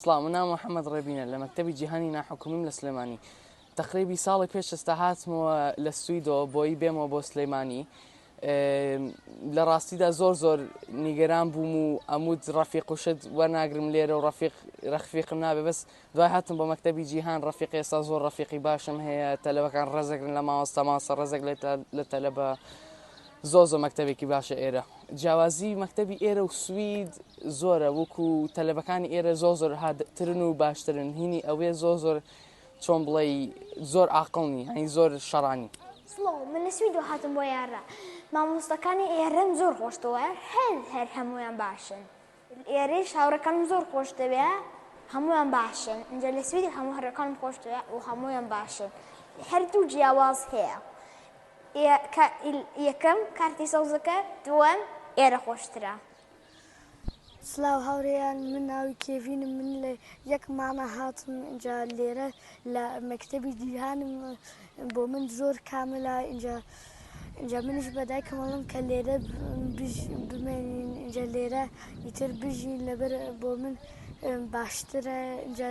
سڵاو من ناوم محەمەد ڕێبینە لە مەکتەبی جیهانی ناحکومیم لە سلێمانی تقریبی ساڵی پێش ئێستا هاتمەوە لە سویدۆ بۆی بێمەوە بۆ سلەیمانی لە ڕاستیدا زۆر زۆر نیگەران بووم و ئەمود ڕەفیق و شت وەرناگرم لێرە و ڕەفیق ڕەخفیقم نابێ بەس دوای هاتم بۆ مەکتتەبی جیهان ڕەفیق ئێستا زۆر ڕەفیقی باشم هەیە تەلەبەکان ڕزەگرن لە ماوەستە ماسە ڕزەک لە تەلەبە زۆر زۆر مەکتەبێکی باشە ئێرە جیاوازی مەکتەبی ئێرە و سوید زۆرە وەکو تەلەبەکانی ئێرە زۆر زۆر هاترن و باشترن هینی ئەوێ زۆر زۆر چۆن بڵێ زۆر عقلنی ئەین زۆر شەڕانی سڵاو من لە سوید و هاتم بۆ یارە مامۆستەکانی ئێرەم زۆر خۆشتەوە هەر هەر هەمویان باشن لێرەیش هاوڕێکانم زۆر خۆش دەوێ هەمویان باشن ئینجا لە سویدی هەموو هەڕێکانم خۆش دەوێ و هەمویان باشن هەردوو جیاواز هەیە یەکەم کارتی سەوزەکە دووەم ئێرە خۆشترە سلااو هاورێیان من ناوی کێڤینم من لە یەک مانە هاتم جا لێرە لە مەکتتەبی جیهانم بۆ من زۆر کاملە ئینجا ئینجا منیش بە دایکم هەڵم کە لێرە بمێنین ئینجا لێرە ئیتر بژین لەبەر بۆ من باشترە ئینجا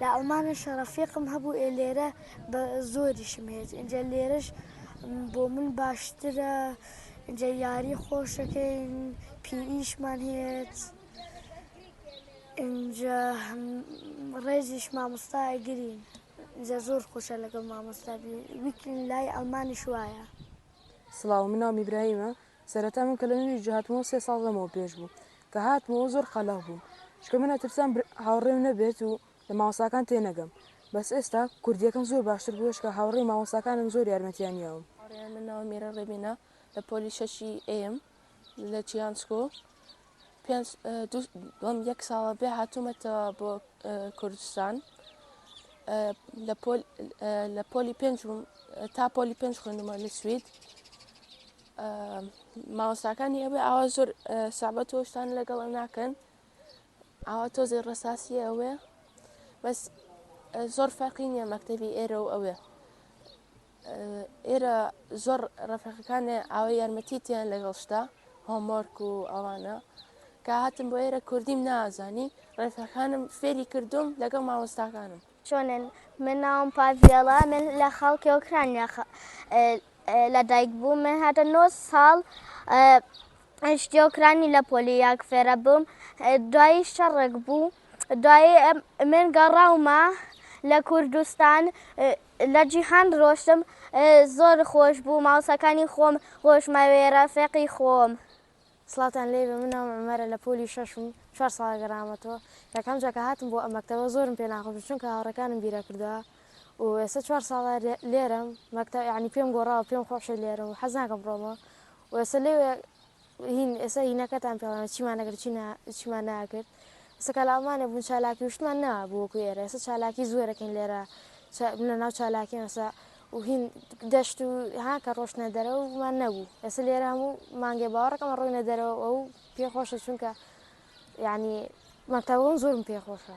لە ئەڵمانە شەڕەفیقم هەبوو ئێ لێرە بە زۆریشم هێت ئینجا لێرەش بۆ من باشترە ئینجا یاری خۆشەکەین پیئیشمان هێت ئینجا ڕێزیش مامۆستا ئەگرین. جا زۆر خۆشە لەگەڵ مامۆستا بی ویک لای ئەڵمانیش وایە. سڵاو من ناوم ئیبراهیمە سەرەتا من کە لە نرویج هاتمەوە سێ ساڵ لەمەوە پێش بوو کە هاتمەوە زۆر قەلەغ بووم چکە من ئەترسام هاوڕێم نەبێت و لە ماوەساکان تێ نەگەم بەس ئێستا کوردیەکەم زۆر باشتر بووە چکە هاوڕێی ماوەساکانم زۆر یارمەتیان یاوم. هاوڕێیان من ناوم میرە ڕێبینە لە پۆلی شەشی ئەیەم. لە چیان سکۆ دوم یەک ساڵە بێ هاتوومەتەوە بۆ کوردستان لە پۆلی پێنج تا پۆلی پێنج خوێندمە لە سوید ماوەستاکانی ئەوێ ئاوا زۆر سابەت تۆشتان لەگەڵ ناکەن ئاوا تۆزێ ڕساسی ئەوێ بەس زۆر فەرقی نییە مەکتتەبی ئێرە و ئەوێ ئێرە زۆر ڕفەقەکانێ ئاوە یارمەتی تیان لەگەڵ شتا هۆمۆرک و ئەوانە کە هاتم بۆ ئێرە کوردیم نازانی ڕێفەکانم فێری کردوم لەگەڵ مامۆستاکانم چۆنن من ناوم پاڤێڵە من لە خەڵکی ئۆکرانیا لە دایک بوو من هاتە نۆ ساڵ شتی ئۆکرانی لە پۆلی یاک فێرە بووم دوایی شەڕێک بوو دوایی من گەڕاومە لە کوردستان لە جیهان ڕۆشتم زۆر خۆش بوو مامۆستاکانی خۆم هۆشمەوێ ڕەفێقی خۆم. سڵاوتان لێبێ من ناوم عومەرە لە پۆلی شەشم چوار ساڵە گەڕامەتەوە یەکەم جار کە هاتم بۆ ئەم مەکتەبە زۆرم پێ ناخۆش بوو چونکە هاوڕێکانم بیرە کردەوە و ئێستا چوار ساڵە لێرەم مەکتەب یانی پێم گۆڕاوە پێم خۆشە لێرەم و حەز ناکەم بڕۆمەوە و ئێستا لێ هین ئێستا هینەکەتان پێڵانە چیمان نەکرد چی چیمان ناکرد ئێستا کە لە ئەڵمانیا بوون چالاکی وشتمان نەبوو وەکو ئێرە ئێستا چالاکی زۆر دەکەین لێرە لە ناو چالاکی ئێستا و هین دەشت و ها کە ڕۆشتنە دەرەوەمان نەبوو ئێستا لێرە هەموو مانگێ باوەڕەکەمە ڕۆینە دەرەوە ئەو پێخۆشە چونکە یعنی مەتەوەم زۆرم پێخۆشە.